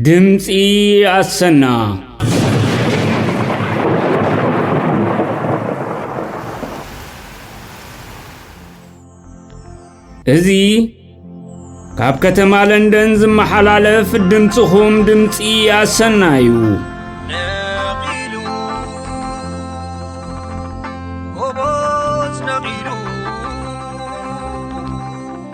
ድምፂ ኣሰና እዚ ካብ ከተማ ለንደን ዝመሓላለፍ ድምፅኹም ድምፂ ኣሰና እዩ ነቒሉ ጎቦዝ ነቒሉ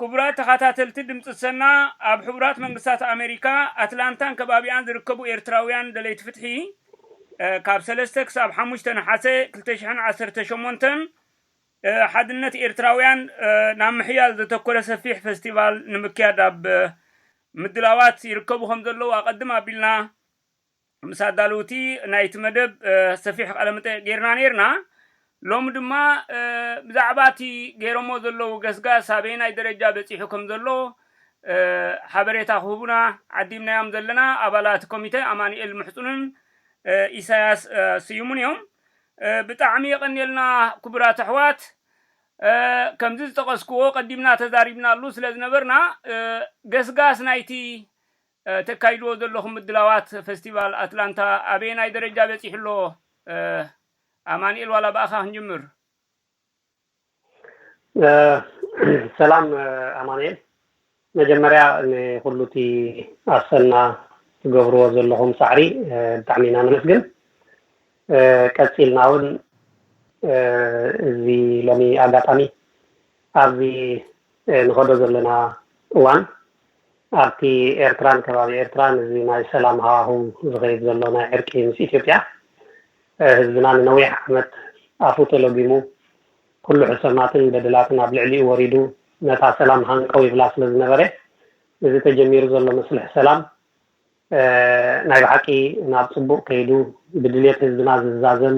ክቡራት ተኻታተልቲ ድምጺ ሰና ኣብ ሕቡራት መንግስታት ኣመሪካ ኣትላንታን ከባቢኣን ዝርከቡ ኤርትራውያን ደለይቲ ፍትሒ ካብ ሰለስተ ክሳብ ሓሙሽተ ነሓሰ ክልተ ሽሕን ዓሰርተ ሸሞንተን ሓድነት ኤርትራውያን ናብ ምሕያል ዘተኮረ ሰፊሕ ፈስቲቫል ንምክያድ ኣብ ምድላዋት ይርከቡ ከም ዘለዉ ኣቐድም ኣቢልና ምስ ኣዳለውቲ ናይቲ መደብ ሰፊሕ ቃለመጠይቕ ጌርና ኔርና። ሎሚ ድማ ብዛዕባ እቲ ገይሮሞ ዘለዉ ገስጋስ ኣበየናይ ደረጃ በጺሑ ከም ዘሎ ሓበሬታ ክህቡና ዓዲምናዮም ዘለና ኣባላት ኮሚተ ኣማኑኤል ምሕጹንን ኢሳያስ ስዩምን እዮም። ብጣዕሚ የቐንየልና ክቡራት ኣሕዋት። ከምዚ ዝጠቐስኩዎ ቀዲምና ተዛሪብናሉ ስለዝነበርና ገስጋስ ናይቲ እተካይድዎ ዘለኹም ምድላዋት ፈስቲቫል ኣትላንታ ኣበየናይ ደረጃ በጺሑ ኣሎ? ኣማኒኤል ዋላ ብኣኻ ክንጅምር። ሰላም ኣማኒኤል መጀመርያ ንኹሉ እቲ ኣሰና ትገብርዎ ዘለኹም ጻዕሪ ብጣዕሚ ኢና ነመስግን ቀጺልና እውን እዚ ሎሚ ኣጋጣሚ ኣብዚ ንኸዶ ዘለና እዋን ኣብቲ ኤርትራን ከባቢ ኤርትራን እዚ ናይ ሰላም ሃዋህው ዝኸይድ ዘሎ ናይ ዕርቂ ምስ ኢትዮጵያ ህዝብና ንነዊሕ ዓመት ኣፉ ተሎጊሙ ኩሉ ሕሰማትን በደላትን ኣብ ልዕሊኡ ወሪዱ ነታ ሰላም ሃንቀው ይብላ ስለዝነበረ እዚ ተጀሚሩ ዘሎ መስልሕ ሰላም ናይ ብሓቂ ናብ ጽቡቅ ከይዱ ብድልየት ህዝብና ዝዛዘም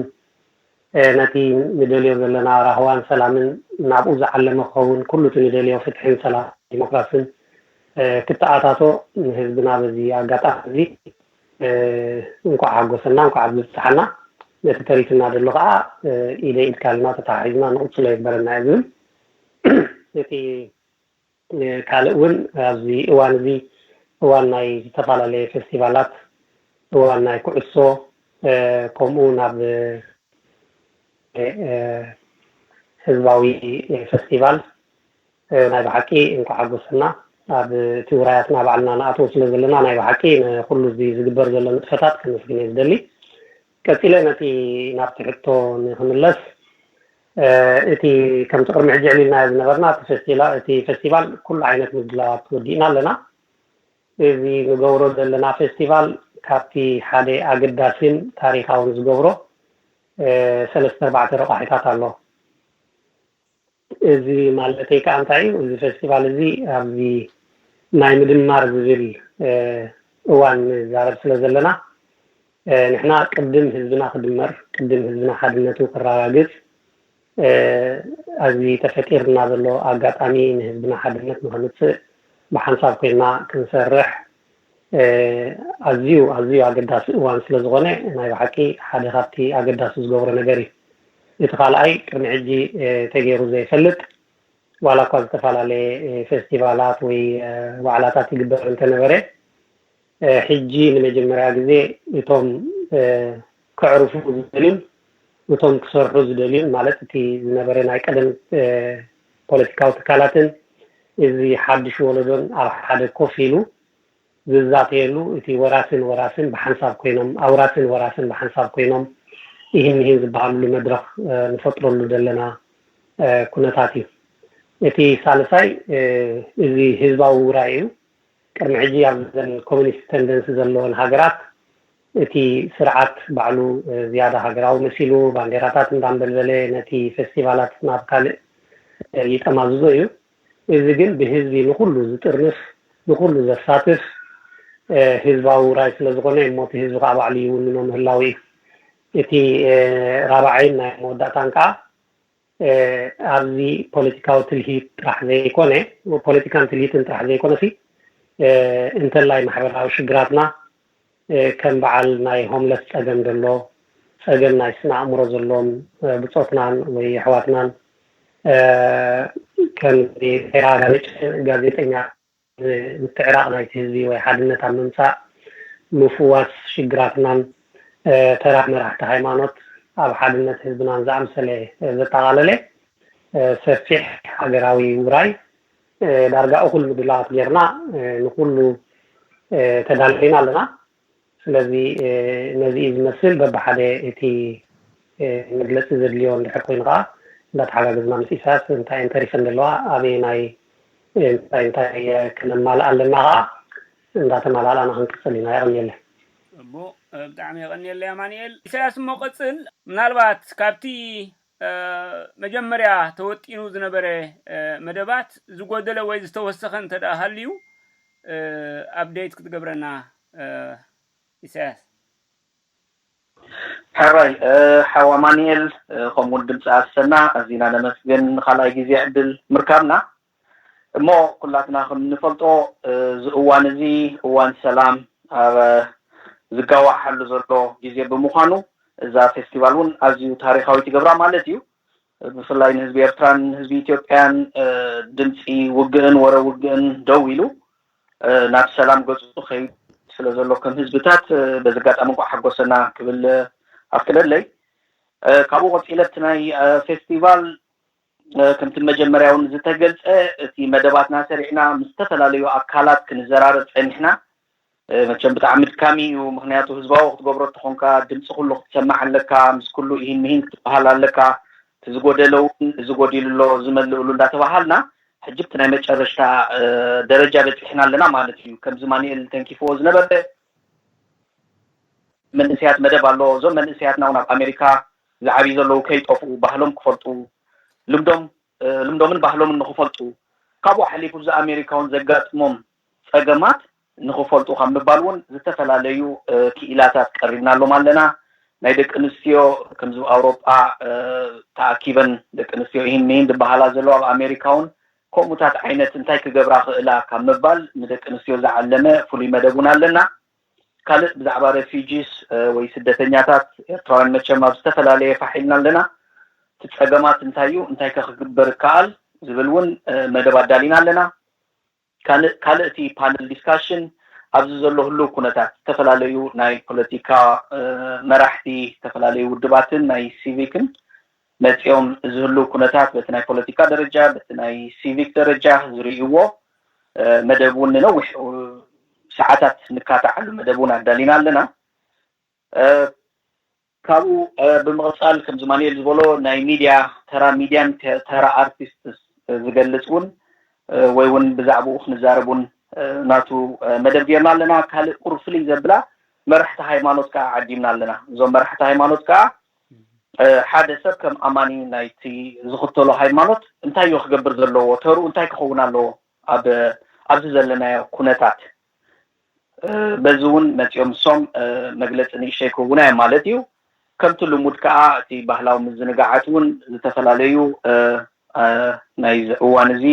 ነቲ ንደልዮ ዘለና ራህዋን ሰላምን ናብኡ ዝዓለመ ክኸውን ኩሉ እቲ ንደልዮ ፍትሕን ሰላምን ዲሞክራስን ክተኣታቶ ንህዝብና በዚ ኣጋጣሚ እዚ እንኳዕ ሓጎሰና እንኳዕ ኣብዚ ኣብጽሓና ነቲ ተሪፍና ደሎ ከኣ ኢደይ ኢድካ ኢልና ተተሓሒዝና ንቅጽሎ ይግበረና እየ ዝብል እቲ ካልእ እውን ኣብዚ እዋን እዚ እዋን ናይ ዝተፈላለየ ፌስቲቫላት እዋን ናይ ኩዕሶ ከምኡ እውን ኣብ ህዝባዊ ፌስቲቫል ናይ ብሓቂ እንኳ ሓጎሰና ኣብ እቲ ውራያትና ባዕልና ንኣትዎ ስለ ዘለና ናይ ብሓቂ ንኩሉ እዚ ዝግበር ዘሎ ንጥፈታት ከመስግን እየ ዝደሊ ቀፂለ ነቲ ናብቲ ሕቶ ንክምለስ እቲ ከምቲ ቅድሚ ሕጂ ኣዕሊልናዮ ዝነበርና እቲ ፈስቲላ እቲ ፈስቲቫል ኩሉ ዓይነት ምድላዋት ወዲእና ኣለና። እዚ ንገብሮ ዘለና ፈስቲቫል ካብቲ ሓደ ኣገዳሲን ታሪኻውን ዝገብሮ ሰለስተ ኣርባዕተ ረቋሒታት ኣሎ። እዚ ማለተይ ከኣ እንታይ እዩ እዚ ፈስቲቫል እዚ ኣብዚ ናይ ምድማር ዝብል እዋን ንዛረብ ስለ ዘለና ንሕና ቅድም ህዝብና ክድመር ቅድም ህዝብና ሓድነቱ ክራጋግጽ ኣዚ ተፈጢርና ዘሎ ኣጋጣሚ ንህዝብና ሓድነት ንክምጽእ ብሓንሳብ ኮይና ክንሰርሕ ኣዝዩ ኣዝዩ ኣገዳሲ እዋን ስለ ዝኮነ ናይ ብሓቂ ሓደ ካብቲ ኣገዳሲ ዝገብሮ ነገር እዩ እቲ ካልኣይ ቅድሚ ሕጂ ተገይሩ ዘይፈልጥ ዋላ እኳ ዝተፈላለየ ፌስቲቫላት ወይ ዋዕላታት ይግበር እንተነበረ ሕጂ ንመጀመርያ ግዜ እቶም ከዕርፉ ዝደልዩን እቶም ክሰርሑ ዝደልዩን ማለት እቲ ዝነበረ ናይ ቀደም ፖለቲካዊ ትካላትን እዚ ሓዱሽ ወለዶን ኣብ ሓደ ኮፍ ኢሉ ዝዛተየሉ እቲ ወራስን ወራስን ብሓንሳብ ኮይኖም ኣውራስን ወራስን ብሓንሳብ ኮይኖም ኢሂን ምሂን ዝበሃልሉ መድረኽ ንፈጥረሉ ዘለና ኩነታት እዩ። እቲ ሳልሳይ እዚ ህዝባዊ ውራይ እዩ። ቅድሚ ሕጂ ኣብዘን ኮሚኒስት ተንደንሲ ዘለወን ሃገራት እቲ ስርዓት ባዕሉ ዝያዳ ሃገራዊ መሲሉ ባንዴራታት እንዳንበልበለ ነቲ ፈስቲቫላት ናብ ካልእ ይጠማዝዞ እዩ። እዚ ግን ብህዝቢ ንኹሉ ዝጥርንፍ ንኹሉ ዘሳትፍ ህዝባዊ ውራይ ስለዝኾነ እዩ እሞ እቲ ህዝቢ ከኣ ባዕሉ ይውንኖ ምህላዉ እዩ። እቲ ራብዓይን ናይ መወዳእታን ከኣ ኣብዚ ፖለቲካዊ ትልሂት ጥራሕ ዘይኮነ ፖለቲካን ትልሂትን ጥራሕ ዘይኮነሲ እንተላይ ማሕበራዊ ሽግራትና ከም በዓል ናይ ሆምለስ ፀገም ዘሎ ፀገም ናይ ስነ ኣእምሮ ዘሎዎም ብፆትናን ወይ ኣሕዋትናን ከምዚ ተራ ጋዜጠኛ ምትዕራቕ ናይቲ ህዝቢ ወይ ሓድነት ኣብ ምምጻእ፣ ምፍዋስ ሽግራትናን ተራ መራሕቲ ሃይማኖት ኣብ ሓድነት ህዝብናን ዝኣምሰለ ዘጠቓለለ ሰፊሕ ሃገራዊ ውራይ ዳርጋ እኹል ምድላዋት ጌርና ንኹሉ ተዳሊና ኣለና። ስለዚ ነዚ እዩ ዝመስል በብሓደ እቲ መግለጺ ዘድልዮ እንድሕር ኮይኑ ከኣ እንዳተሓጋገዝና ምስ ኢሳያስ እንታይ እየን ተሪፈን ዘለዋ ኣበየናይ እንታይ እንታይ ክነማልኣ ኣለና ከኣ እንዳተማላላእና ክንቅጽል ኢና የቐንየለይ። እሞ ብጣዕሚ የቐንየለይ ኣማኒኤል። ኢሳያስ እሞ ቀጽል ምናልባት ካብቲ መጀመርያ ተወጢኑ ዝነበረ መደባት ዝጎደለ ወይ ዝተወሰኸ እንተ ሃልዩ ኣፕደይት ክትገብረና ኢሳያስ። ሕራይ ሓው ኣማኒኤል ከምኡውን ድምጺ ኣሰና ኣዚና ነመስግን ንካልኣይ ግዜ ዕድል ምርካብና። እሞ ኩላትና ከም እንፈልጦ እዚ እዋን እዚ እዋን ሰላም ኣብ ዝጋዋሓሉ ዘሎ ግዜ ብምዃኑ እዛ ፌስቲቫል እውን ኣዝዩ ታሪኻዊት ይገብራ ማለት እዩ። ብፍላይ ንህዝቢ ኤርትራን ንህዝቢ ኢትዮጵያን ድምጺ ውግእን ወረ ውግእን ደው ኢሉ ናብ ሰላም ገጹ ከይድ ስለ ዘሎ ከም ህዝብታት በዚ ኣጋጣሚ እንቋዕ ሓጎሰና ክብል ኣፍቅደለይ። ካብኡ ቀጺለ እቲ ናይ ፌስቲቫል ከምቲ መጀመርያ እውን ዝተገልፀ እቲ መደባትና ሰሪዕና ምስ ዝተፈላለዩ ኣካላት ክንዘራረብ ፀኒሕና። መቸም ብጣዕሚ ኣድካሚ እዩ ምኽንያቱ ህዝባዊ ክትገብሮ ተኾንካ ድምፂ ኩሉ ክትሰምዕ ኣለካ ምስ ኩሉ ኢሂን ምሂን ክትበሃል ኣለካ እቲ ዝጎደለ እውን እዚ ጎዲሉ ኣሎ እዚ መልእሉ እንዳተበሃልና ሕጂ ኣብቲ ናይ መጨረሽታ ደረጃ በፂሕና ኣለና ማለት እዩ ከምዚ ማንኤል ተንኪፍዎ ዝነበረ መንእሰያት መደብ ኣሎ እዞም መንእሰያትና እውን ኣብ ኣሜሪካ ዝዓብዩ ዘለዉ ከይጠፍኡ ባህሎም ክፈልጡ ልምዶም ልምዶምን ባህሎምን ንኽፈልጡ ካብኡ ሓሊፉ እዚ ኣሜሪካውን ዘጋጥሞም ፀገማት ንኽፈልጡ ካብ ምባል እውን ዝተፈላለዩ ክኢላታት ቀሪብናሎም ኣለና ናይ ደቂ ኣንስትዮ ከምዚ ኣብ ኣውሮጳ ተኣኪበን ደቂ ኣንስትዮ ኢሂን ምሂን ዝበሃላ ዘለዋ ኣብ ኣሜሪካ እውን ከምኡታት ዓይነት እንታይ ክገብራ ይኽእላ ካብ ምባል ንደቂ ኣንስትዮ ዝዓለመ ፍሉይ መደብ እውን ኣለና ካልእ ብዛዕባ ረፊጂስ ወይ ስደተኛታት ኤርትራውያን መቸም ኣብ ዝተፈላለየ ፋሕ ኢልና ኣለና። እቲ ጸገማት እንታይ እዩ እንታይከ ክግበር ይከኣል ዝብል እውን መደብ ኣዳሊና ኣለና። ካልእ ካልእ እቲ ፓነል ዲስካሽን ኣብዚ ዘሎ ህሉው ኩነታት ዝተፈላለዩ ናይ ፖለቲካ መራሕቲ ዝተፈላለዩ ውድባትን ናይ ሲቪክን መጺኦም እዚ ህሉው ኩነታት በቲ ናይ ፖለቲካ ደረጃ በቲ ናይ ሲቪክ ደረጃ ዝርእይዎ መደብ ውን ንነዊሕ ሰዓታት ንካታዓሉ መደብ ውን ኣዳሊና ኣለና። ካብኡ ብምቕጻል ከምዚ ማንኤል ዝበሎ ናይ ሚድያ ተራ ሚድያን ተራ ኣርቲስትስ ዝገልጽ ውን ወይ ውን ብዛዕብኡ ክንዛረብ ውን ናቱ መደብ ጌርና ኣለና። ካልእ ቁሩብ ፍልይ ዘብላ መራሕቲ ሃይማኖት ከኣ ዓዲምና ኣለና። እዞም መራሕቲ ሃይማኖት ከኣ ሓደ ሰብ ከም ኣማኒ ናይቲ ዝኽተሎ ሃይማኖት እንታይዮ ክገብር ዘለዎ? ተርኡ እንታይ ክኸውን ኣለዎ ኣብ ኣብዚ ዘለናዮ ኩነታት? በዚ እውን መጺኦም እሶም መግለጺ ንእሽተይ ክህቡና እዮም ማለት እዩ። ከምቲ ልሙድ ከኣ እቲ ባህላዊ ምዝንጋዓት እውን ዝተፈላለዩ ናይዚ እዋን እዚ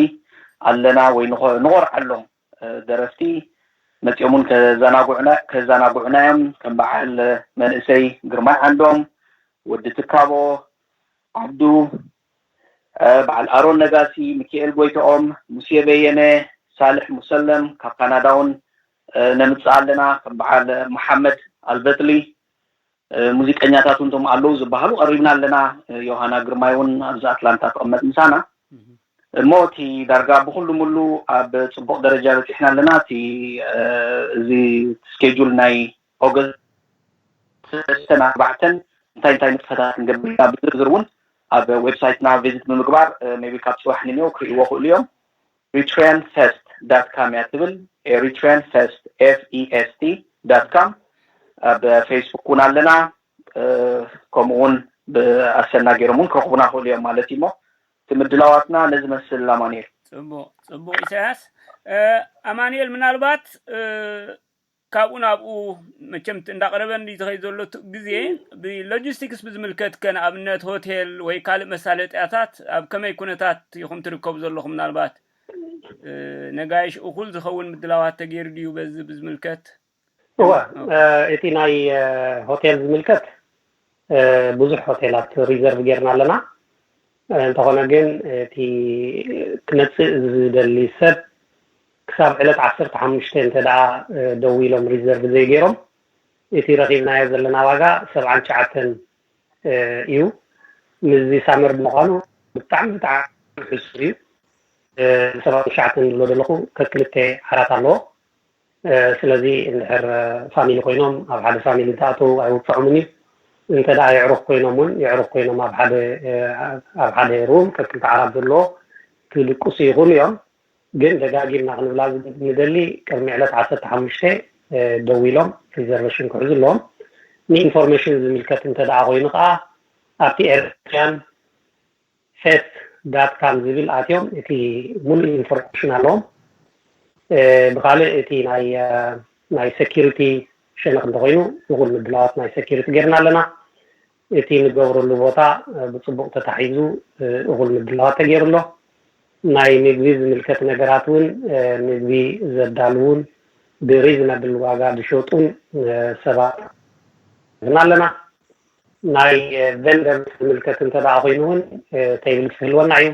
ኣለና ወይ ንኾርዓሎም። ደረፍቲ መጺኦም ውን ከዘናጉዑና ከዘናጉዑና ዮም ከም በዓል መንእሰይ ግርማይ ዓንዶም፣ ወዲ ትካቦ፣ ዓብዱ፣ በዓል ኣሮን ነጋሲ፣ ምኪኤል ጎይትኦም፣ ሙሴ በየነ፣ ሳልሕ ሙሰለም፣ ካብ ካናዳ ውን ነምጽእ ኣለና ከም በዓል መሓመድ ኣልበጥሊ፣ ሙዚቀኛታት'ውን እቶም ኣለዉ ዝበሃሉ ቀሪብና ኣለና። ዮሃና ግርማይ'ውን ኣብዚ ኣትላንታ ትቕመጥ ምሳና። እሞ እቲ ዳርጋ ብኹሉ ምሉ ኣብ ጽቡቕ ደረጃ በጺሕና ኣለና። እቲ እዚ ስኬጁል ናይ ኦገስት ሰለስተን ኣርባዕተን እንታይ እንታይ ንጥፈታት ክንገብር ኢና ብዝርዝር'ውን ኣብ ዌብሳይትና ቪዚት ብምግባር ሜይቢ ካብ ጽባሕ ንኔው ክርእይዎ ይኽእሉ እዮም። Eritrean Fest ዳት ካም እያ ትብል Eritrean Fest FEST ዳት ካም ኣብ ፌስቡክ ውን ኣለና ከምኡ ውን ብ ኣሰና ጌሮም ውን ክረኽቡና ይኽእሉ እዮም ማለት እዩ እሞ እቲ ምድላዋትና ነዚ መስል ኣማኑኤል። ጽቡቅ ጽቡቅ ኢሳያስ ኣማኑኤል ምናልባት ካብኡ ናብኡ መቸም እንዳቐረበ እንድዩ ዝኸይድ ዘሎ ግዜ ብሎጂስቲክስ ብዝምልከትከ ንኣብነት ሆቴል ወይ ካልእ መሳለጥያታት ኣብ ከመይ ኩነታት ኢኹም ትርከቡ ዘለኹም ምናልባት ነጋይሽ እኹል ዝኸውን ምድላዋት ተገይሩ ድዩ በዚ ብዝምልከት እወ እቲ ናይ ሆቴል ዝምልከት ብዙሕ ሆቴላት ሪዘርቭ ጌርና ኣለና እንተኾነ ግን እቲ ክመጽእ ዝደሊ ሰብ ክሳብ ዕለት ዓሰርተ ሓሙሽተ እንተ ደኣ ደዊሎም ሪዘርቭ ዘይገይሮም እቲ ረኺብናዮ ዘለና ዋጋ ሰብዓን ትሽዓተን እዩ ምስዚ ሳመር ብምዃኑ ብጣዕሚ ብጣዕሚ ሕሱር እዩ ሰብዓን ትሽዓተን ዝብሎ ዘለኹ ከክልተ ዓራት ኣለዎ ስለዚ እንድሕር ፋሚሊ ኮይኖም ኣብ ሓደ ፋሚሊ እንትኣተዉ ኣይውጽዖምን እዩ እንተ ደኣ የዕሩኽ ኮይኖም ውን የዕሩኽ ኮይኖም ኣብ ሓደ ኣብ ሓደ ሩም ከክልተ ዓራት ዘለዎ ክድቅሱ ይኽእሉ እዮም ግን ደጋጊምና ክንብላ ንደሊ ቅድሚ ዕለት ዓሰርተ ሓሙሽተ ደዊሎም ሪዘርቨሽን ክሕዙ ኣለዎም ንኢንፎርሜሽን ዝምልከት እንተ ደኣ ኮይኑ ከኣ ኣብቲ ኤርትሪያን ፌት ዳት ካም ዝብል ኣትዮም እቲ ሙሉእ ኢንፎርሜሽን ኣለዎም ብካልእ እቲ ናይ ናይ ሰኪሪቲ ሸነክ እንተኮይኑ እኩል ምድላዋት ናይ ሰኪሪቲ ገርና ኣለና እቲ ንገብረሉ ቦታ ብፅቡቅ ተታሒዙ እኩል ምድላዋት ተገይሩ ኣሎ ናይ ምግቢ ዝምልከት ነገራት እውን ምግቢ ዘዳልዉን ብሪዝነብል ዋጋ ዝሸጡን ሰባት ኣለና። ናይ ቨንደር ዝምልከት እንተ ደኣ ኮይኑ እውን ተይብልስ ክህልወና እዩ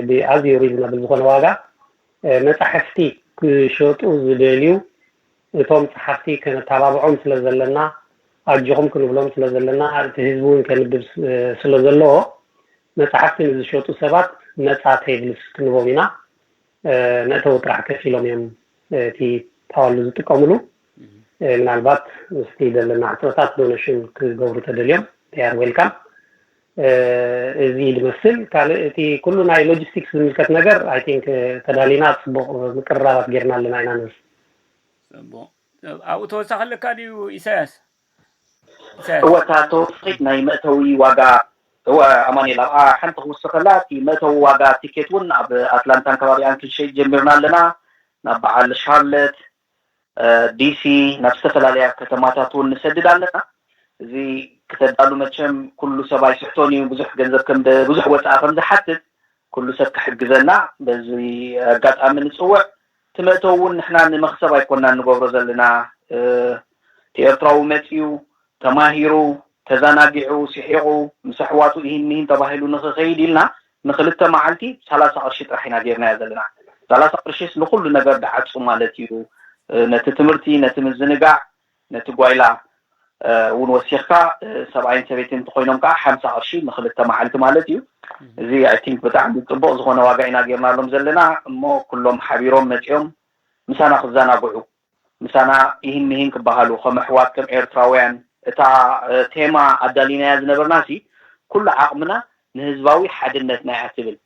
ብኣዝዩ ሪዝናብል ዝኾነ ዋጋ መፃሕፍቲ ክሸጡ ዝደልዩ እቶም ፀሓፍቲ ከነተባብዖም ስለ ዘለና ኣጆኹም ክንብሎም ስለ ዘለና እቲ ህዝቢ እውን ከንብብ ስለ ዘለዎ መፃሕፍቲ ንዝሸጡ ሰባት ነፃ ተይብልስ ክንቦም ኢና መእተዊ ጥራሕ ከፊሎም እዮም እቲ ፓዋሉ ዝጥቀምሉ። ምናልባት ምስቲ ዘለና ሕጽረታት ዶነሽን ክገብሩ ተደልዮም they are welcome። እዚ ድመስል ካልእ እቲ ኩሉ ናይ ሎጂስቲክስ ዝምልከት ነገር ኣይ ቲንክ ተዳሊና ጽቡቕ ምቅርራባት ጌርና ኣለና ኢና ንብል። ጽቡቕ ኣብኡ ተወሳኺ ኣለካ ድዩ ኢሳያስ? እወ እታ ተወሳኺት ናይ መእተዊ ዋጋ እወ ኣማኒኤል ኣብኣ ሓንቲ ክውስኸላ እቲ መእተዊ ዋጋ ቲኬት ውን ኣብ ኣትላንታን ከባቢኣን ክንሸይጥ ጀሚርና ኣለና ናብ በዓል ሻርለት ዲሲ ናብ ዝተፈላለያ ከተማታት ውን ንሰድድ ኣለና እዚ ክተዳሉ መቸም ኩሉ ሰብ ኣይስሕቶን ኢዩ ብዙሕ ገንዘብ ከም ብዙሕ ወጻኢ ከም ዝሓትት ኩሉ ሰብ ክሕግዘና በዚ ኣጋጣሚ ንጽውዕ እቲ መእተዊ ውን ንሕና ንመኽሰብ ኣይኮናን ንገብሮ ዘለና እቲ ኤርትራዊ መጺኡ ተማሂሩ ተዛናጊዑ ሲሒቑ ምስ ኣሕዋቱ ኢሂን ሚሂን ተባሂሉ ንኽኸይድ ኢልና ንኽልተ መዓልቲ ሰላሳ ቅርሺ ጥራሕ ኢና ጌርናዮ ዘለና ሰላሳ ቅርሺስ ንኹሉ ነገር ድዓጹ ማለት ኢዩ ነቲ ትምህርቲ ነቲ ምዝንጋዕ ነቲ ጓይላ እውን ወሲኽካ ሰብኣይን ሰበይትን እንተኾይኖም ከኣ ሓምሳ ቅርሺ ንኽልተ መዓልቲ ማለት እዩ። እዚ i think ብጣዕሚ ጽቡቕ ዝኾነ ዋጋ ኢና ጌርናሎም ዘለና እሞ ኩሎም ሓቢሮም መጺኦም ምሳና ክዘናግዑ ምሳና ኢሂን ምሂን ክበሃሉ ከም ኣሕዋት ከም ኤርትራውያን እታ ቴማ ኣዳሊናያ ዝነበርናሲ ኩሉ ዓቕምና ንህዝባዊ ሓድነትና እያ ትብል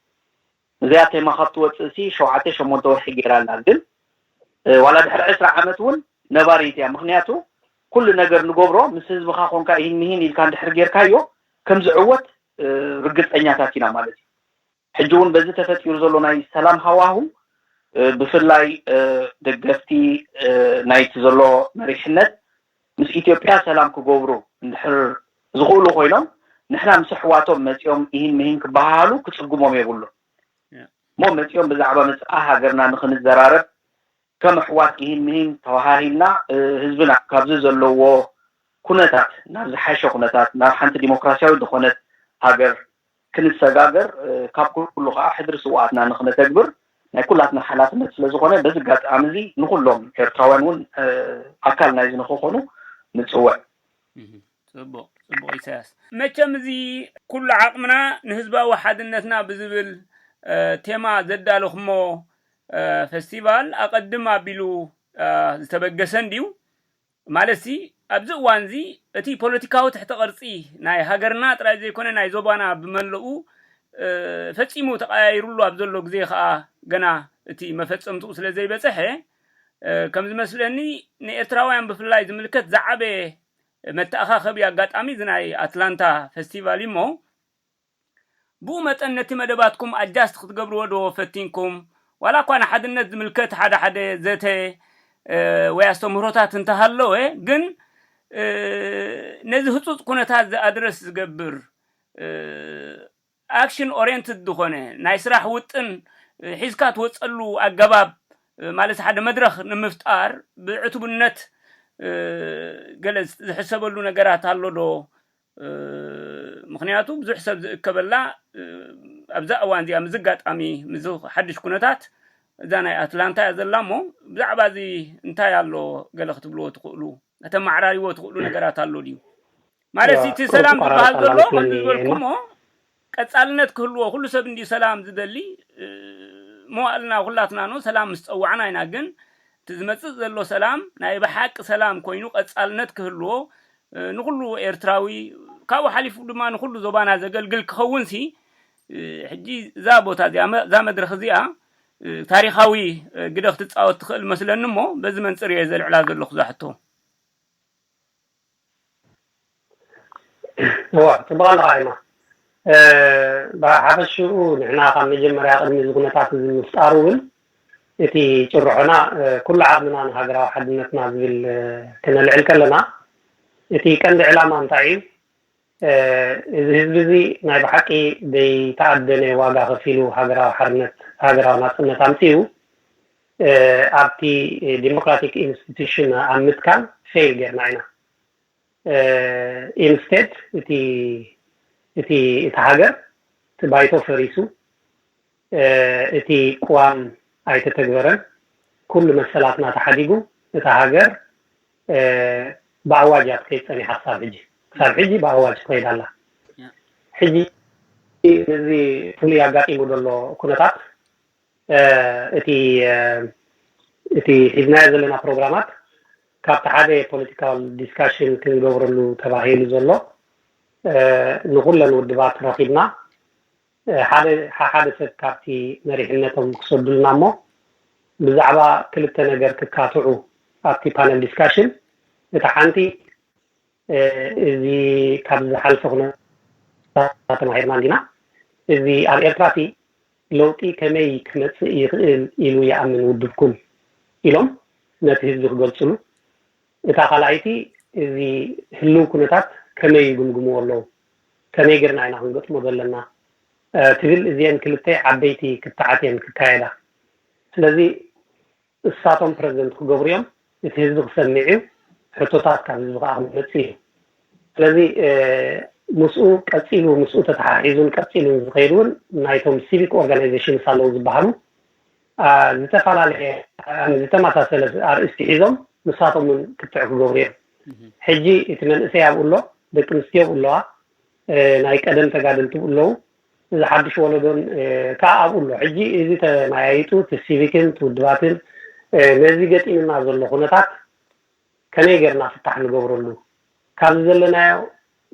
እዚኣ ቴማ ካብ ትወጽእሲ ሸውዓተ ሸሞንተ ወርሒ ጌራ ኣላ ግን ዋላ ድሕሪ ዕስራ ዓመት ውን ነባሪት እያ ምኽንያቱ ኩሉ ነገር ንገብሮ ምስ ህዝብኻ ኮንካ ኢሂን ምሂን ኢልካ እንድሕር ጌርካዮ ከም ዝዕወት ርግጸኛታት ኢና ማለት እዩ ሕጂ ውን በዚ ተፈጢሩ ዘሎ ናይ ሰላም ሃዋሁ ብፍላይ ደገፍቲ ናይቲ ዘሎ መሪሕነት ምስ ኢትዮጵያ ሰላም ክገብሩ እንድሕር ዝኽእሉ ኮይኖም ንሕና ምስ ኣሕዋቶም መጺኦም ኢሂን ምሂን ክበሃሃሉ ክጽግሞም የብሉን እሞ መጺኦም ብዛዕባ መጻኢ ሃገርና ንኽንዘራረብ ከም ኣሕዋት ኢሂን ምሂን ተበሃሂልና ህዝብና ካብዚ ዘለዎ ኩነታት ናብ ዝሓሸ ኩነታት ናብ ሓንቲ ዲሞክራሲያዊት ዝኾነት ሃገር ክንሰጋገር ካብ ኩሉ ከኣ ሕድሪ ስውኣትና ንክነተግብር ናይ ኩላትና ሓላፍነት ስለ ዝኾነ በዚ ኣጋጣሚ እዚ ንኹሎም ኤርትራውያን እውን ኣካል ናይዚ ንክኾኑ ንጽውዕ። ጽቡቕ ጽቡቕ ኢሳያስ መቸም እዚ ኩሉ ዓቕምና ንህዝባዊ ሓድነትና ብዝብል ቴማ ዘዳለኹሞ ፈስቲቫል ኣቐድም ኣቢሉ ዝተበገሰ እንድዩ ማለትሲ ኣብዚ እዋንዚ እቲ ፖለቲካዊ ትሕተ ቅርጺ ናይ ሃገርና ጥራይ ዘይኮነ ናይ ዞባና ብመለኡ ፈጺሙ ተቐያይሩሉ ኣብ ዘሎ ግዜ ከኣ ገና እቲ መፈጸምትኡ ስለ ዘይበጸሐ ከም ዝመስለኒ ንኤርትራውያን ብፍላይ ዝምልከት ዝዓበየ መተኣኻኸቢ ኣጋጣሚ እዚ ናይ ኣትላንታ ፈስቲቫል እዩሞ ብኡ መጠን ነቲ መደባትኩም ኣጃስት ክትገብርዎ ዶ ፈቲንኩም? ዋላ እኳ ንሓድነት ዝምልከት ሓደ ሓደ ዘተ ወይ ኣስተምህሮታት እንተሃለወ ግን ነዚ ህጹጽ ኩነታት እዚ ኣድረስ ዝገብር ኣክሽን ኦሬንትድ ዝኾነ ናይ ስራሕ ውጥን ሒዝካ ትወጸሉ ኣገባብ ማለት ሓደ መድረኽ ንምፍጣር ብዕቱብነት ገለ ዝሕሰበሉ ነገራት ኣሎ ዶ ምኽንያቱ ብዙሕ ሰብ ዝእከበላ ኣብዛ እዋን እዚኣ ምስዚ ኣጋጣሚ ምስዚ ሓድሽ ኩነታት እዛ ናይ ኣትላንታ እያ ዘላ እሞ ብዛዕባ እዚ እንታይ ኣሎ ገለ ክትብልዎ ትኽእሉ ከተመዓራርይዎ ትኽእሉ ነገራት ኣሎ ድዩ ማለት እቲ ሰላም ዝበሃል ዘሎ ከምቲ ዝበልኩሞ ቀጻልነት ክህልዎ ኩሉ ሰብ እንድዩ ሰላም ዝደሊ መዋእልና ኩላትና ን ሰላም ምስ ጸዋዕና ኢና ግን እቲ ዝመጽእ ዘሎ ሰላም ናይ ብሓቂ ሰላም ኮይኑ ቀጻልነት ክህልዎ ንኩሉ ኤርትራዊ ካብኡ ሓሊፉ ድማ ንኩሉ ዞባና ዘገልግል ክኸውን ሲ ሕጂ እዛ ቦታ እዚኣ እዛ መድረኽ እዚኣ ታሪኻዊ ግደ ክትጻወት ትኽእል መስለኒ እሞ በዚ መንጽር እየ ዘልዕላ ዘለኹ እዛ ሕቶ። እወ ፅቡቅ ኣለኻ ይማ ብሓፈሽኡ ንሕና ካብ መጀመርያ ቅድሚ እዚ ኩነታት እዚ ምፍጣሩ እውን እቲ ጭርሖና ኩሉ ዓቕምና ንሃገራዊ ሓድነትና ዝብል ክነልዕል ከለና እቲ ቀንዲ ዕላማ እንታይ እዩ እዚ ህዝቢ እዚ ናይ ብሓቂ ዘይተኣደነ ዋጋ ከፊሉ ሃገራዊ ሓርነት ሃገራዊ ናጽነት ኣምጺኡ ኣብቲ ዲሞክራቲክ ኢንስቲቱሽን ኣብ ምትካል ፌል ጌርና ኢና ኢንስቴድ እቲ እቲ እቲ ሃገር እቲ ባይቶ ፈሪሱ እቲ ቅዋም ኣይተተግበረን፣ ኩሉ መሰላትና ተሓዲጉ፣ እታ ሃገር ብኣዋጅ እያ ትኸይድ ፀኒሓ ክሳብ ሕጂ፣ ክሳብ ሕጂ ብኣዋጅ ትኸይድ ኣላ። ሕጂ እዚ ፍሉይ ኣጋጢሙ ዘሎ ኩነታት እቲ እቲ ሒዝናዮ ዘለና ፕሮግራማት ካብቲ ሓደ ፖለቲካል ዲስካሽን ክንገብረሉ ተባሂሉ ዘሎ ንኹለን ውድባት ረኺብና ሓደ ሓሓደ ሰብ ካብቲ መሪሕነቶም ክሰዱልና እሞ ብዛዕባ ክልተ ነገር ክካትዑ ኣብቲ ፓነል ዲስካሽን እታ ሓንቲ እዚ ካብዚ ዝሓልፈ ኩነታት ተማሂርና እንዲና እዚ ኣብ ኤርትራ እቲ ለውጢ ከመይ ክመጽእ ይኽእል ኢሉ ይኣምን ውድብኩም ኢሎም ነቲ ህዝቢ ክገልጽሉ እታ ካልኣይቲ እዚ ህልው ኩነታት ከመይ ይግምግምዎ ኣለው? ከመይ ገይርና ኢና ክንገጥሞ ዘለና? ትብል እዚኤን ክልተ ዓበይቲ ክትዓት እየን ክካየዳ። ስለዚ እሳቶም ፕረዚደንት ክገብሩ እዮም፣ እቲ ህዝቢ ክሰምዕ እዩ፣ ሕቶታት ካብ ህዝቢ ከኣ ክመጽእ እዩ። ስለዚ ምስኡ ቀጺሉ ምስኡ ተተሓሒዙን ቀጺሉን ዝኸይድ እውን ናይቶም ሲቪክ ኦርጋናይዜሽንስ ኣለው ዝበሃሉ፣ ዝተፈላለየ ዝተመሳሰለ ኣርእስቲ ሒዞም ንሳቶም ውን ክትዕ ክገብሩ እዮም ሕጂ እቲ መንእሰይ ኣብኡ ኣሎ ደቂ ኣንስትዮ ኣብኡ ኣለዋ ናይ ቀደም ተጋደልቲ ኣብኡ ኣለዉ እዚ ሓድሽ ወለዶን ከዓ ኣብኡ ኣሎ ሕጂ እዚ ተመያይጡ እቲ ሲቪክን እቲ ውድባትን ነዚ ገጢምና ዘሎ ኩነታት ከመይ ጌርና ፍታሕ ንገብረሉ፣ ካብዚ ዘለናዮ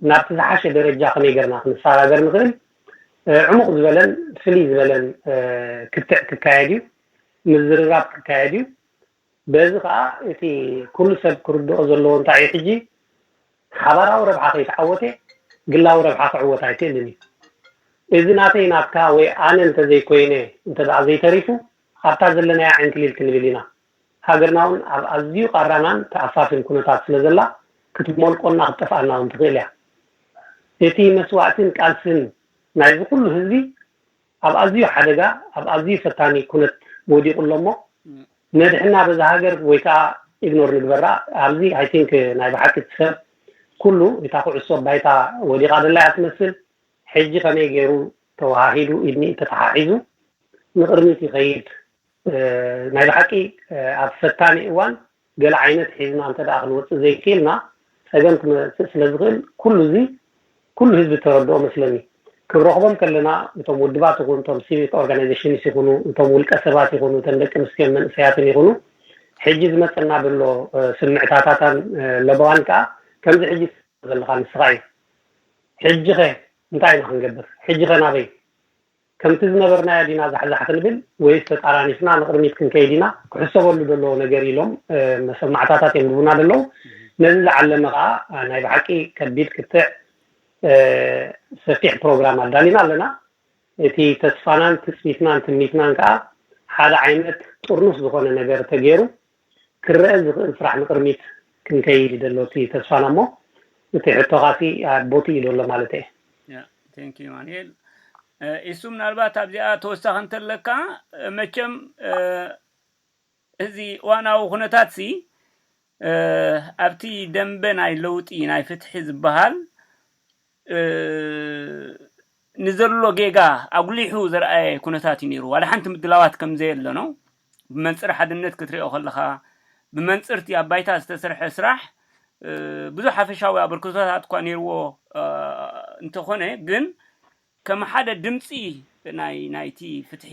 ናብቲ ዝሓሸ ደረጃ ከመይ ጌርና ክንሰጋገር ንኽእል፣ ዕሙቕ ዝበለን ፍልይ ዝበለን ክትዕ ክካየድ እዩ፣ ምዝርራብ ክካየድ እዩ። በዚ ከኣ እቲ ኩሉ ሰብ ክርድኦ ዘለዎ እንታይ እዩ ሕጂ ሓባራዊ ረብሓ ከይተዓወተ ግላዊ ረብሓ ክዕወት ኣይክእልን እዩ። እዚ ናተይ ናትካ ወይ ኣነ እንተዘይኮይነ እንተደኣ ዘይተሪፉ ኣብታ ዘለናያ ዕንክሊል ክንብል ኢና። ሃገርና ውን ኣብ ኣዝዩ ቃራናን ተኣፋፍን ኩነታት ስለ ዘላ ክትሞልቆና ክትጠፍኣና ውን ትኽእል እያ። እቲ መስዋእትን ቃልስን ናይዚ ኩሉ ህዝቢ ኣብ ኣዝዩ ሓደጋ ኣብ ኣዝዩ ፈታኒ ኩነት ወዲቁ ኣሎ እሞ ነድሕና በዛ ሃገር ወይ ከኣ ኢግኖር ንግበራ ኣብዚ i think ናይ ብሓቂ እቲ ሰብ ኩሉ እታ ኩዕሶ ኣብ ባይታ ወዲቃ ደላ እያ ትመስል ሕጂ ከመይ ጌሩ ተወሃሂዱ ኢድ ንኢድ ተተሓሒዙ ንቅርሚት ይኸይድ ናይ ብሓቂ ኣብ ፈታኒ እዋን ገለ ዓይነት ሒዝና እንተ ክንወጽእ ዘይኪኢልና ጸገም ክመጽእ ስለ ዝኽእል ኩሉ እዚ ኩሉ ህዝቢ ተረድኦ መስለኒ። ክንረኽቦም ከለና እቶም ውድባት ይኹን እቶም ሲቪክ ኦርጋናይዜሽንስ ይኹኑ እቶም ውልቀ ሰባት ይኹኑ እተን ደቂ ኣንስትዮን መንእሰያትን ይኹኑ ሕጂ ዝመጸና ዘሎ ስምዕታታታን ለበዋን ከኣ ከምዚ ሕጂ ዘለኻ ንስኻ እዩ። ሕጂኸ እንታይ ኢና ክንገብር? ሕጂኸ ናበይ? ከምቲ ዝነበርናዮ ዲና ዛሕዛሕ ክንብል ወይስ ተጣራኒፍና ንቕድሚት ክንከይድ ኢና ክሕሰበሉ ደለዎ ነገር ኢሎም መሰማዕታታት የንብቡና ደለዉ። ነዚ ዝዓለመ ከኣ ናይ ብሓቂ ከቢድ ክትዕ ሰፊሕ ፕሮግራም ኣዳሊና ኣለና። እቲ ተስፋናን ትጽቢትናን ትምኒትናን ከኣ ሓደ ዓይነት ጥርኑፍ ዝኾነ ነገር ተገይሩ ክረኣ ዝኽእል ስራሕ ንቅርሚት ክንከይድ እዩ ደሎ እቲ ተስፋና እሞ እቲ ሕቶኻሲ ኣቦቲ እዩ ደሎ ማለት እየ። Yeah thank you ኣማኒኤል ኢሱ ምናልባት ኣብዚኣ ተወሳኺ እንተለካ መቸም እዚ ዋናዊ ኩነታት ሲ ኣብቲ ደንበ ናይ ለውጢ ናይ ፍትሒ ዝበሃል ንዘሎ ጌጋ ኣጉሊሑ ዘርኣየ ኩነታት እዩ ነይሩ። ዋላ ሓንቲ ምድላዋት ከም ዘየለ ነው። ብመንጽር ሓድነት ክትሪኦ ከለኻ፣ ብመንጽር እቲ ኣብ ባይታ ዝተሰርሐ ስራሕ ብዙሕ ሓፈሻዊ ኣበርክቶታት እኳ ነይርዎ እንተኾነ ግን ከም ሓደ ድምጺ ናይ ናይቲ ፍትሒ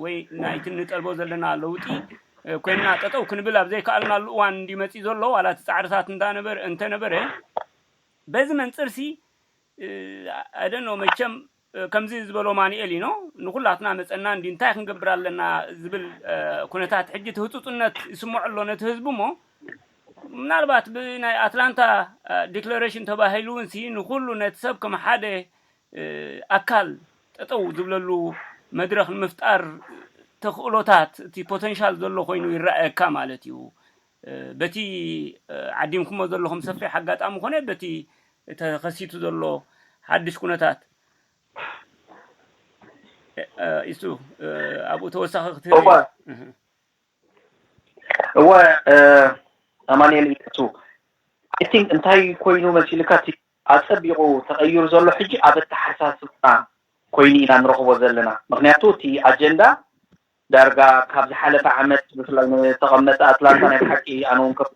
ወይ ናይቲ እንጠልቦ ዘለና ለውጢ ኮይንና ጠጠው ክንብል ኣብ ዘይከኣልናሉ እዋን እንድዩ መጺኡ ዘሎ ዋላ እቲ ጻዕርታት እንዳነበረ እንተነበረ በዚ መንጽርሲ ኣይ ዶንት ኖው መቸም ከምዚ ዝበሎ ማኑኤሊኖ ንኹላትና መጸና እንድዩ እንታይ ክንገብር ኣለና ዝብል ኩነታት ሕጂ እቲ ህጹጽነት ይስምዖ ኣሎ ነቲ ህዝቢ እሞ ምናልባት ብናይ ኣትላንታ ዲክለሬሽን ተባሂሉ እውንሲ ንኹሉ ነቲ ሰብ ከም ሓደ ኣካል ጠጠው ዝብለሉ መድረኽ ንምፍጣር ተኽእሎታት እቲ ፖተንሻል ዘሎ ኮይኑ ይረኣየካ ማለት እዩ በቲ ዓዲምኩሞ ዘለኹም ሰፊሕ ኣጋጣሚ ኮነ በቲ ተኸሲቱ ዘሎ ሓድሽ ኩነታት ኢሱ ኣብኡ ተወሳኺ ክትህብ እወ እወ ኣማንኤል ኢሱ ኣይ ቲንክ እንታይ ኮይኑ መሲልካ እቲ ኣጸቢቑ ተቐይሩ ዘሎ ሕጂ ኣብ ኣተሓሳስብና ኮይኑ ኢና ንረኽቦ ዘለና ምክንያቱ እቲ ኣጀንዳ ዳርጋ ካብ ዝሓለፈ ዓመት ብፍላይ ንተቐመጠ ኣትላንታ ናይ ብሓቂ ኣነ ውን ከፍ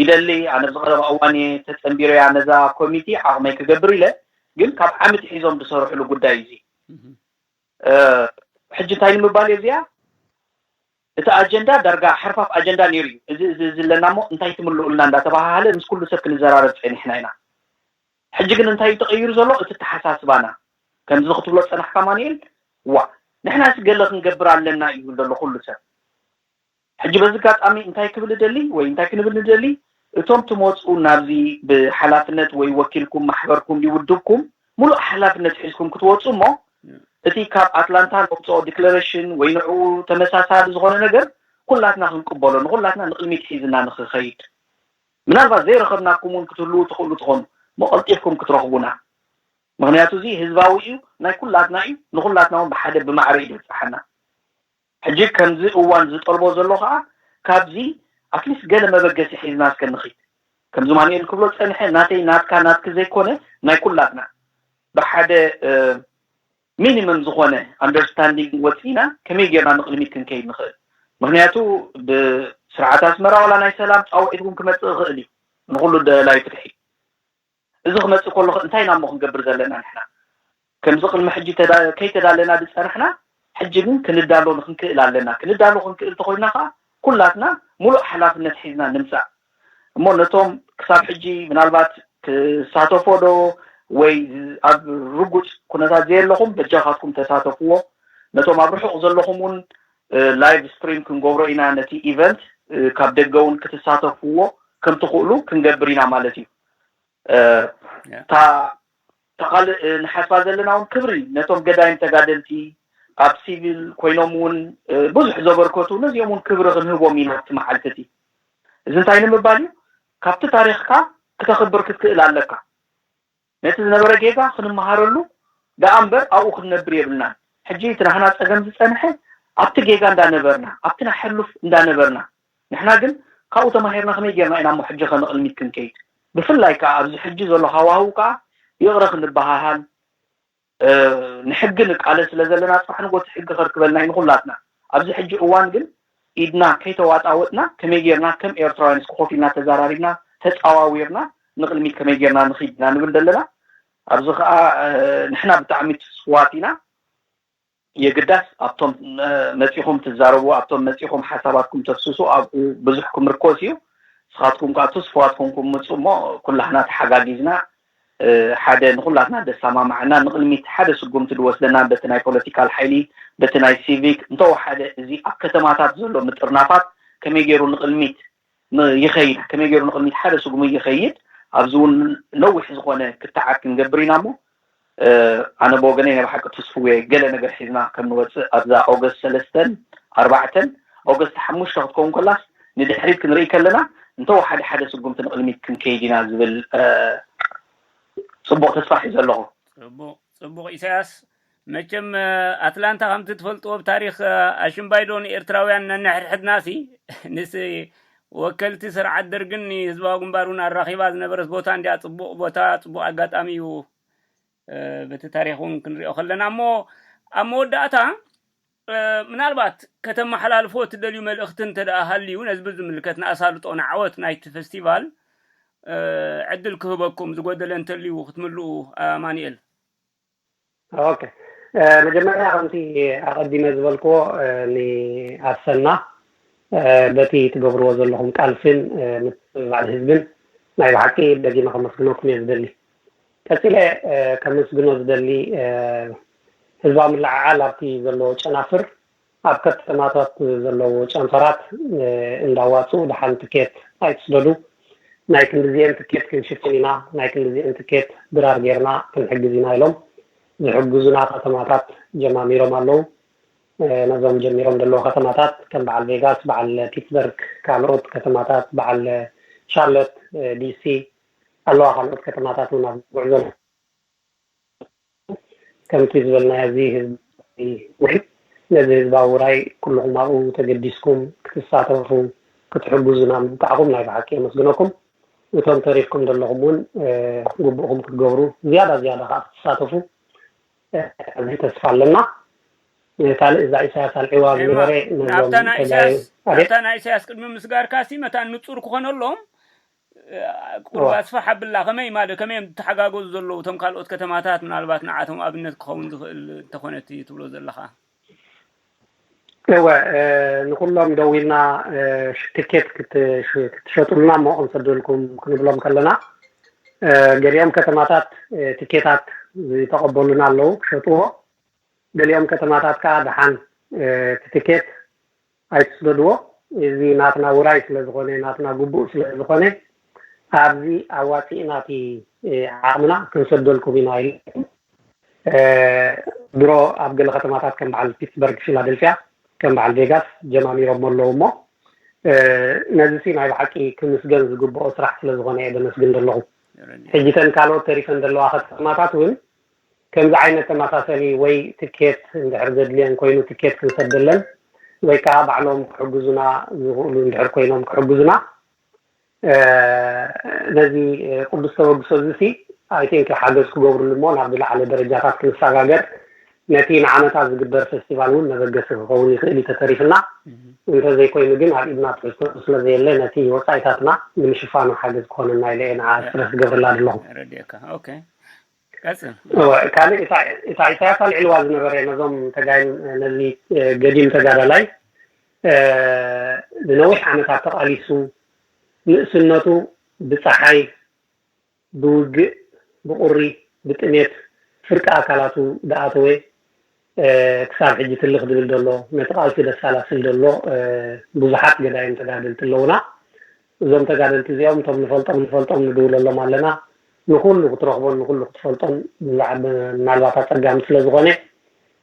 ይደሊ ኣነ ኣብዚ ቀረባ እዋን እየ ተጸንቢረያ ነዛ ኮሚቲ ዓቕመይ ክገብር ኢለ ግን ካብ ዓምቲ ሒዞም ዝሰርሕሉ ጉዳይ እዩ እዚ ሕጂ እንታይ ንምባል እየ እዚኣ እቲ ኣጀንዳ ዳርጋ ሓርፋፍ ኣጀንዳ ነይሩ እዩ እዚ እዚ ኣለና እሞ እንታይ ትምልኡልና እንዳተባሃሃለ ምስ ኩሉ ሰብ ክንዘራረብ ጸኒሕና ኢና ሕጂ ግን እንታይ እዩ ተቐይሩ ዘሎ እቲ ኣተሓሳስባና? ከምዚ ክትብሎ ዝጸናሕካ ኣማኑኤል፣ ዋእ! ንሕናስ ገለ ክንገብር ኣለና እዩ ዝብለሉ ኩሉ ሰብ። ሕጂ በዚ ኣጋጣሚ እንታይ ክብል እደሊ ወይ እንታይ ክንብል ንደሊ፣ እቶም ትመጽኡ ናብዚ ብሓላፍነት ወይ ወኪልኩም ማሕበርኩም ድዩ ውድብኩም ምሉእ ሓላፍነት ሒዝኩም ክትወጹ እሞ እቲ ካብ ኣትላንታ ነውጽኦ ዲክለረሽን ወይ ንዕኡ ተመሳሳሊ ዝኾነ ነገር ኩላትና ክንቅበሎ ንኹላትና ንቕድሚት ሒዝና ንኽኸይድ ምናልባት ዘይረኸብናኩም ውን ክትህልዉ ትኽእሉ ትኾኑ እሞ ቀልጢፍኩም ክትረኽቡና ምኽንያቱ እዚ ህዝባዊ እዩ ናይ ኩላትና እዩ ንኹላትና ውን ብሓደ ብማዕረ እዩ ድብጻሓና ሕጂ ከምዚ እዋን ዝጠልቦ ዘሎ ኸኣ ካብዚ ኣትሊስት ገለ መበገሲ ሒዝና እስከ ንኺድ ከምዚ ማኑኤል ክብሎ ዝጸንሐ ናተይ ናትካ ናትኪ ዘይኮነ ናይ ኩላትና ብሓደ ሚኒመም ዝኾነ ኣንደርስታንዲንግ ወጺእና ከመይ ጌርና ንቕድሚት ክንከይድ ንኽእል? ምኽንያቱ ብስርዓት ኣስመራ ዋላ ናይ ሰላም ጻውዒት እውን ክመጽእ ይኽእል እዩ ንኹሉ ደላይ ፍትሒ። እዚ ክመጽእ ከሎኸ እንታይ ኢና እሞ ክንገብር ዘለና ንሕና? ከምዚ ቅድሚ ሕጂ ከይተዳለና ዝጸናሕና ሕጂ ግን ክንዳሎ ንክንክእል ኣለና። ክንዳሎ ክንክእል እንተኾይንና ከኣ ኩላትና ሙሉእ ሓላፍነት ሒዝና ንምጻእ እሞ ነቶም ክሳብ ሕጂ ምናልባት ክሳተፎ ዶ ወይ ኣብ ርጉጽ ኩነታት ዘየለኹም በጃኻትኩም ተሳተፍዎ ነቶም ኣብ ርሑቕ ዘለኹም ውን ላይቭ ስትሪም ክንገብሮ ኢና ነቲ ኢቨንት ካብ ደገ ውን ክትሳተፍዎ ከምትኽእሉ ክንገብር ኢና ማለት እዩ እታ እታ ካልእ ንሓስባ ዘለና እውን ክብሪ ነቶም ገዳይም ተጋደልቲ ኣብ ሲቪል ኮይኖም እውን ብዙሕ ዘበርከቱ ነዚኦም እውን ክብሪ ክንህቦም ኢና ኣብቲ መዓልቲ እቲ እዚ እንታይ ንምባል እዩ ካብቲ ታሪኽካ ክተኽብር ክትክእል ኣለካ ነቲ ዝነበረ ጌጋ ክንመሃረሉ ደኣ እምበር ኣብኡ ክንነብር የብልናን ሕጂ እቲ ናህና ጸገም ዝጸንሐ ኣብቲ ጌጋ እንዳነበርና ኣብቲ ናይ ሕሉፍ እንዳነበርና ንሕና ግን ካብኡ ተማሂርና ከመይ ጌርና ኢናሞ ሕጂ ከንቕልሚት ክንከይድ ብፍላይ ከኣ ኣብዚ ሕጂ ዘሎ ሃዋህው ከኣ ይቕረ ክንበሃሃል ንሕጊ ንቃለስ ስለ ዘለና ጽባሕ ንጎቲ ሕጊ ከርክበልና ኢዩ ንኹላትና ኣብዚ ሕጂ እዋን ግን ኢድና ከይተዋጣወጥና ከመይ ጌርና ከም ኤርትራውያን እስኪ ኮፍ ኢልና ተዛራሪብና ተጻዋዊርና ንቕልሚት ከመይ ጌርና ንኺድ ኢና ንብል ደለና ኣብዚ ከኣ ንሕና ብጣዕሚ ትስፉዋት ኢና የግዳስ ኣብቶም መጺኹም ትዛረቡ ኣብቶም መጺኹም ሓሳባትኩም ተፍስሱ ኣብኡ ብዙሕ ክምርኮስ እዩ ንስኻትኩም ከኣ ትስፉዋት ኮንኩም ምጹ እሞ ኩላህና ተሓጋጊዝና ሓደ ንኹላትና ደሳማማዐና ንቕድሚት ሓደ ስጉምቲ ድወስደና በቲ ናይ ፖለቲካል ሓይሊ በቲ ናይ ሲቪክ እንተወሓደ እዚ ኣብ ከተማታት ዘሎ ምጥርናፋት ከመይ ገይሩ ንቕድሚት ይኸይድ ከመይ ገይሩ ንቕድሚት ሓደ ስጉሚ ይኸይድ ኣብዚ እውን ነዊሕ ዝኾነ ክትዓት ክንገብር ኢና እሞ ኣነ ብወገነይ ናይ ብሓቂ ትስፉው እየ ገለ ነገር ሒዝና ከም ንወፅእ ኣብዛ ኦገስት ሰለስተን ኣርባዕተን ኦገስት ሓሙሽተ ክትከውን ከላስ ንድሕሪት ክንርኢ ከለና እንተወሓደ ሓደ ስጉምቲ ንቕድሚት ክንከይድ ኢና ዝብል ፅቡቕ ተስፋ ሒዘ ኣለኹ ፅቡቕ ኢሳያስ መቸም ኣትላንታ ከምቲ ትፈልጥዎ ብ ታሪኽ ኣሽምባይ ዶ ንኤርትራውያን ነንሕድሕድናሲ ንስ ወከልቲ ስርዓት ደርግን ንህዝባዊ ግንባሩን ኣራኺባ ዝነበረት ቦታ እንዲያ ጽቡቕ ቦታ ጽቡቕ ኣጋጣሚ እዩ በቲ ታሪኽ እውን ክንሪኦ ከለና እሞ ኣብ መወዳእታ ምናልባት ከተመሓላልፎ እትደልዩ መልእኽቲ እንተ ደኣ ሃልዩ ነዚ ብዝምልከት ንኣሳልጦ ንዓወት ናይቲ ፌስቲቫል ዕድል ክህበኩም ዝጎደለ እንተልዩ ክትምልኡ ኣማኒኤል ኦኬ መጀመርያ ከምቲ ኣቐዲመ ዝበልክዎ ንኣሰና በቲ ትገብርዎ ዘለኹም ቃልስን ምትብባዕን ህዝብን ናይ ብሓቂ ደጊመ ከመስግነኩም እየ ዝደሊ ቀጺለ ከምስግኖ ዝደሊ ህዝባዊ ምልዕዓል ኣብቲ ዘለዎ ጨናፍር ኣብ ከተማታት ዘለዉ ጨንፈራት እንዳዋጽኡ ደሓን ትኬት ኣይትስደዱ፣ ናይ ክንድዚኤን ትኬት ክንሽፍን ኢና፣ ናይ ክንድዚኤን ትኬት ድራር ጌርና ክንሕግዝ ኢና ኢሎም ዝሕግዙና ከተማታት ጀማሚሮም ኣለዉ። ነዞም ጀሚሮም ዘለዉ ከተማታት ከም በዓል ቬጋስ፣ በዓል ፒትስበርግ፣ ካልኦት ከተማታት በዓል ሻርሎት፣ ዲሲ፣ ኣለዋ ካልኦት ከተማታት ውን ኣብ ጉዕዞ ኣለዋ። ከምቲ ዝበልናዮ እዚ ህዝባዊ ውዒ ነዚ ህዝባዊ ውራይ ኩሉኹም ኣብኡ ተገዲስኩም ክትሳተፉ ክትሕግዙና ምብቃዕኩም ናይ ብሓቂ የመስግነኩም። እቶም ተሪፍኩም ዘለኹም እውን ግቡእኹም ክትገብሩ ዝያዳ ዝያዳ ከኣ ክትሳተፉ ዓቢ ተስፋ ኣለና። ካልእ እዛ ኢሳያስ ኣልዒዋ ዝነበረ ነዞም ተጋሩ ኣቤት ናብታ ናይ ኢሳያስ ቅድሚ ምስጋርካሲ መታን ንጹር ክኾነሎም ቁሩብ ኣስፍሕ ኣብላ ከመይ ማለት ከመይ እዮም ዝትሓጋገዙ ዘለዉ እቶም ካልኦት ከተማታት ምናልባት ንዓቶም ኣብነት ክኸውን ዝኽእል እንተኾነ እቲ ትብሎ ዘለኻ እወ ንኩሎም ደዊልና ትኬት ክትሸጡልና እሞ ክንሰደልኩም ክንብሎም ከለና ገሊኦም ከተማታት ትኬታት ዝተቐበሉና ኣለዉ ክሸጥዎ ገሊኦም ከተማታት ከዓ ደሓን እቲ ትኬት ኣይትስደድዎ እዚ ናትና ውራይ ስለ ዝኾነ ናትና ጉቡእ ስለ ዝኾነ ኣብዚ ኣዋጺእና እቲ ዓቕምና ክንሰደልኩም ኢና ኢለኩም ድሮ ኣብ ገለ ከተማታት ከም በዓል ፒትስበርግ ፊላደልፍያ ከም በዓል ቬጋስ ጀማሚሮሞ ኣለዉ እሞ ነዚሲ ናይ ብሓቂ ክምስገን ዝግብኦ ስራሕ ስለ ዝኾነ እየ ደመስግን ደለኹ ሕጂ ተን ካልኦት ተሪፈን ደለዋ ከተማታት እውን ከምዚ ዓይነት ተመሳሰሊ ወይ ትኬት እንድሕር ዘድልየን ኮይኑ ትኬት ክንሰደለን ወይ ከኣ ባዕሎም ክሕግዙና ዝኽእሉ እንድሕር ኮይኖም ክሕግዙና ነዚ ቅዱስ ተበግሶ እዚ ሲ ኣይ ቲንክ ሓገዝ ክገብርሉ እሞ ናብ ዝለዓለ ደረጃታት ክንሰጋገር ነቲ ንዓመታ ዝግበር ፌስቲቫል እውን መበገሲ ክኸውን ይኽእል እዩ ተተሪፍና እንተዘይኮይኑ ግን ኣብ ኢድና ትሕዝቶ ስለዘየለ ነቲ ወፃኢታትና ንምሽፋኑ ሓገዝ ክኾነና ኢለ እየ ንዓ ስረስ ዝገብረላ ዘለኹ ረድኤካ ኦኬ ቀጽል እወ ካልእ እታ እታ ኢሳያስ ኣልዒልዋ ዝነበረ ነዞም ተጋይ ነዚ ገዲም ተጋዳላይ ንነዊሕ ዓመታት ተቓሊሱ ንእስነቱ ብፀሓይ ብውግእ ብቑሪ ብጥሜት ፍርቂ ኣካላቱ ድኣተወ ክሳብ ሕጂ ትልኽ ድብል ደሎ ነቲ ቃልሲ ደሳላስል ደሎ ብዙሓት ገዳይም ተጋደልቲ ኣለውና እዞም ተጋደልቲ እዚኦም እቶም ንፈልጦም ንፈልጦም ንድውለሎም ኣለና ንኹሉ ክትረኽቦን ንኹሉ ክትፈልጦን ምናልባት ኣጸጋሚ ስለ ዝኾነ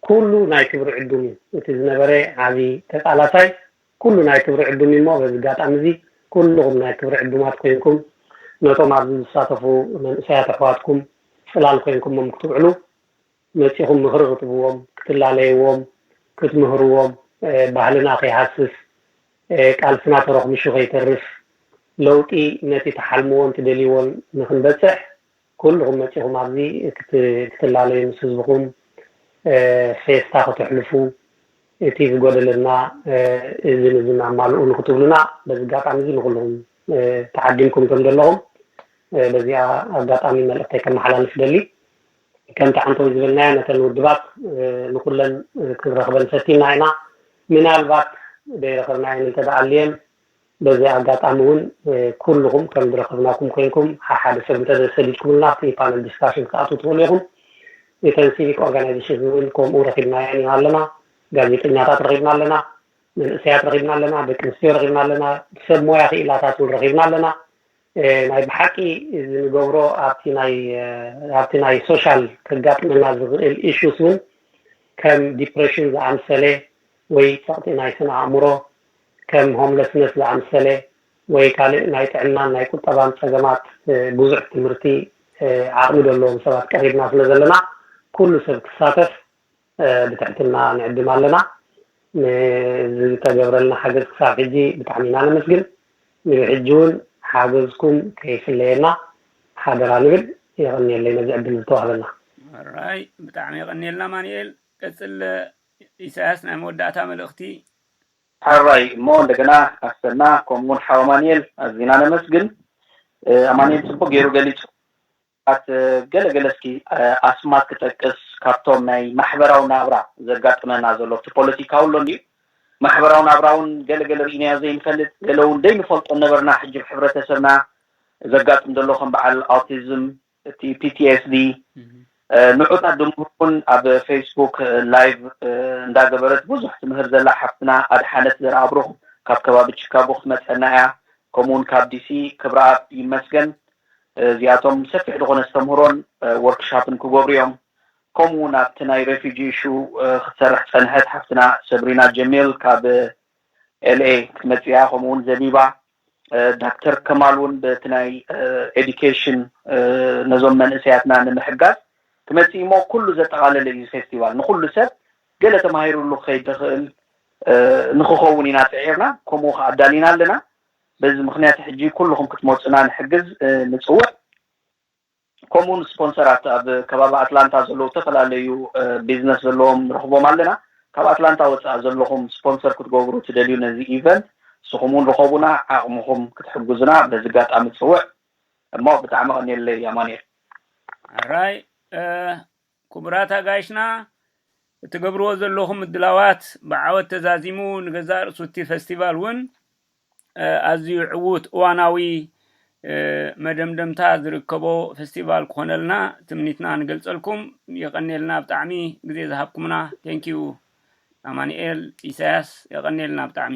ኩሉ ናይ ክብሪ ዕዱም እዩ እቲ ዝነበረ ዓቢ ተቃላሳይ ኩሉ ናይ ክብሪ ዕዱም እዩ እሞ በዚ ኣጋጣሚ እዚ ኩሉኹም ናይ ክብሪ ዕዱማት ኮይንኩም ነቶም ኣብዚ ዝሳተፉ መንእሰያት ኣሕዋትኩም ጽላል ኮይንኩሞም ክትውዕሉ መጺኹም ምኽሪ ክትብዎም፣ ክትላለይዎም፣ ክትምህርዎም፣ ባህልና ከይሃስስ፣ ቃልስና ተሮኽሚሹ ከይተርፍ፣ ለውጢ ነቲ ትሓልምዎን ትደልይዎን ንክንበጽሕ ኩሉኹም መጺኹም ኣብዚ ክትላለዩ ምስ ህዝብኹም ፌስታ ከተሕልፉ እቲ ዝጎደለና እዝን እዝን ኣማልኡ ንክትብሉና በዚ ኣጋጣሚ እዚ ንኹሉኹም ተዓዲምኩም ከምዘለኹም በዚ ኣጋጣሚ መልእኽተይ ከመሓላልፍ እደሊ። ከምቲ ዓንተይ ዝበልናዮ ነተን ውድባት ንኹለን ክንረኽበን ፈቲና ኢና። ምናልባት ደይረኸብናየን እንተድኣ ኣልየን በዚ ኣጋጣሚ እውን ኩሉኹም ከም ድረኸብናኩም ኮይንኩም ሓሓደ ሰብ እንተደሰዲድኩምልና ኣብቲ ፓነል ዲስካሽን ክትኣትዉ ትኽእሉ ኢኹም። እተን ሲቪክ ኦርጋናይዜሽን እውን ከምኡ ረኺብናየን ኢና ኣለና። ጋዜጠኛታት ረኺብና ኣለና። መንእሰያት ረኺብና ኣለና። ደቂ ኣንስትዮ ረኺብና ኣለና። ሰብ ሞያ ክኢላታት እውን ረኺብና ኣለና። ናይ ብሓቂ እዚ ንገብሮ ኣብቲ ናይ ኣብቲ ናይ ሶሻል ከጋጥመና ዝኽእል ኢሹስ እውን ከም ዲፕሬሽን ዝኣምሰለ ወይ ጸቕጢ ናይ ስነ ኣእምሮ ከም ሆምለስነስ ዝኣምሰለ ወይ ካልእ ናይ ጥዕናን ናይ ቁጠባን ጸገማት ብዙሕ ትምህርቲ ዓቕሚ ዘለዎም ሰባት ቀሪብና ስለ ዘለና ኩሉ ሰብ ክሳተፍ ብትሕትና ንዕድም ኣለና። ንዝተገብረልና ሓገዝ ክሳብ ሕጂ ብጣዕሚ ኢና ነመስግን። ንብሕጂ እውን ሓገዝኩም ከይፍለየና ሓደራ ንብል። የቐንየለይ ነዚ ዕድል ዝተዋህበና። ሕራይ ብጣዕሚ የቐንየልና ኣማኒኤል። ቀጽል ኢሳያስ ናይ መወዳእታ መልእኽቲ። ሐራይ እሞ እንደገና ኣሰና ከምኡ ውን ሓው ኣማኒኤል ኣዚና ነመስግን ኣማኒኤል ጽቡቅ ጌሩ ገሊጹ ኣት ገለ ገለ እስኪ ኣስማት ክጠቅስ ካብቶም ናይ ማሕበራዊ ናብራ ዘጋጥመና ዘሎ ኣብቲ ፖለቲካዊ ኣሎ እንድዩ ማሕበራዊ ናብራ ውን ገለ ገለ ሪኢናዮ ዘይንፈልጥ ገለ ውን ደይንፈልጦ ነበርና ሕጂ ኣብ ሕብረተሰብና ዘጋጥም ዘሎ ከም በዓል ኣውቲዝም እቲ PTSD ንዑታት ድምህር ውን ኣብ ፌስቡክ ላይቭ እንዳ ገበረት ብዙሕ ትምህር ዘላ ሓፍትና ኣድሓነት ዘርኣብሩኽ ካብ ከባቢ ቺካጎ ክትመጸና ኢያ ከምኡ ውን ካብ ዲሲ ክብረኣብ ይመስገን እዚኣቶም ሰፊሕ ዝኾነ ኣስተምህሮን ወርክ ሻፕን ክገብሩ እዮም። ከምኡ እውን ኣብቲ ናይ ሬፊጂ ኢሹ ክትሰርሕ ዝፀንሐት ሓፍትና ሰብሪና ጀሚል ካብ LA ክትመፅእ እያ ከምኡ እውን ዘቢባ ዳክተር ከማል እውን በቲ ናይ ኤዱኬሽን ነዞም መንእሰያትና ንምሕጋዝ ክመፅእ እዩ እሞ ኩሉ ዘጠቓለለ እዩ እዚ ፌስቲቫል ንኹሉ ሰብ ገለ ተማሂርሉ ክኸይድ ዝኽእል ንኽኸውን ኢና ፅዒርና ከምኡ ከኣ ኣዳሊና ኣለና በዚ ምኽንያት ሕጂ ኩሉኹም ክትመጹና ንሕግዝ ንጽውዕ። ከምኡውን ስፖንሰራት ኣብ ከባቢ ኣትላንታ ዘለዉ እተፈላለዩ ቢዝነስ ዘለዎም ንረኽቦም ኣለና። ካብ ኣትላንታ ወጻኢ ዘለኹም ስፖንሰር ክትገብሩ ትደልዩ ነዚ ኢቨንት ንስኹም እውን ርኸቡና ዓቕምኹም ክትሕግዙና በዚ ኣጋጣሚ እጽውዕ። እሞ ብጣዕሚ ቀንየለይ ኣማኑኤል። ሕራይ ኩቡራት ኣጋይሽና እትገብርዎ ዘለኹም ምድላዋት ብዓወት ተዛዚሙ ንገዛእ ርእሱ እቲ ፈስቲቫል ውን ኣዝዩ ዕዉት እዋናዊ መደምደምታ ዝርከቦ ፈስቲቫል ክኾነልና ትምኒትና ንገልጸልኩም የቀንየልና ብጣዕሚ ግዜ ዝሃብኩምና Thank you ኣማኒኤል ኢሳያስ የቀንየልና ብጣዕሚ።